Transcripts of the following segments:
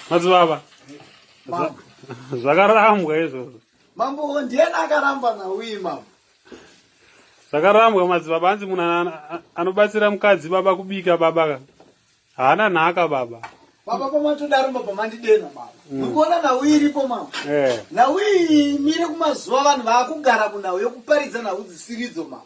madzibaba zvakarambwa izvozvo mambo ndiyena akaramba nauyi mambo zvakarambwa madzibaba anzi munhu anobatsira mukadzi baba kubika baba ka haana nhaka baba baba pamatodaro baba mandidena baba mm. mukuona nhau iripo mama eh. nhau iyi mire kumazuva vanhu vaakugara kunhau yokuparidza nhau dzisiridzo mama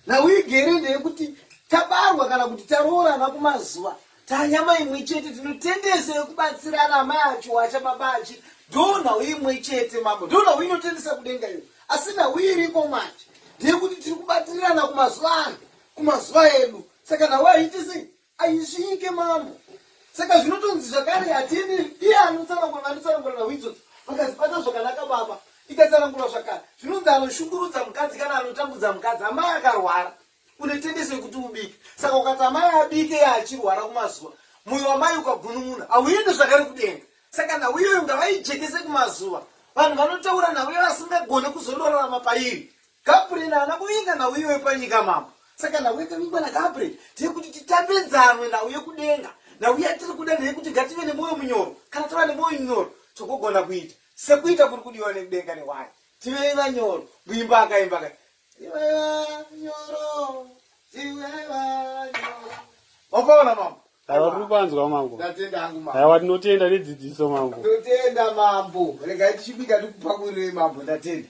nhau igere ndeyekuti tabarwa kana kuti taroorana kumazuva Tanya mai imwe chete tinotendesa yekubatsirana mai acho wacha baba achi ndoo nhau imwe chete mambo ndoo nhau inotendesa kudenga iyo asi nhau iyi iriko manje ndeyekuti tiri kubatsirirana kumazuva ano kumazuva edu saka nhau haiti sei aisvike mambo saka zvinotonzi zvakare hatini iye anotsanangura vanotsanangura nhau idzodzo vakazibata zvakanaka baba ikatsanangura zvakare zvinonzi anoshungurudza mukadzi kana anotambudza mukadzi amai akarwara une tendency yekuti ubike saka ukati amai abike yaachirwara kumazuva moyo wamai ukagunun'una hauende zvakare kudenga saka nhau iyoyo ngavaijekese kumazuva vanhu vanotaura nhau iyoyo asingagone kuzondorarama pairi gabriel haana kuvinga nhau iyoyo panyika mambo saka nhau yakavingwa nagabriel tiri kuti titambe nzanwe nhau yekudenga nhau yatiri kuda ndeyekuti ngative nemwoyo munyoro kana tava nemwoyo munyoro tokogona kuita sekuita kuri kudiwa nekudenga newani tivei vanyoro muimba akaimba ka Wakaona mambo? Aiwa tiri panzwa mambo. Ndatenda hangu mambo. Aiwa tinotenda nedzidziso mambo. Tinotenda mambo. Regai tichibika tikupakurire mambo ndatenda.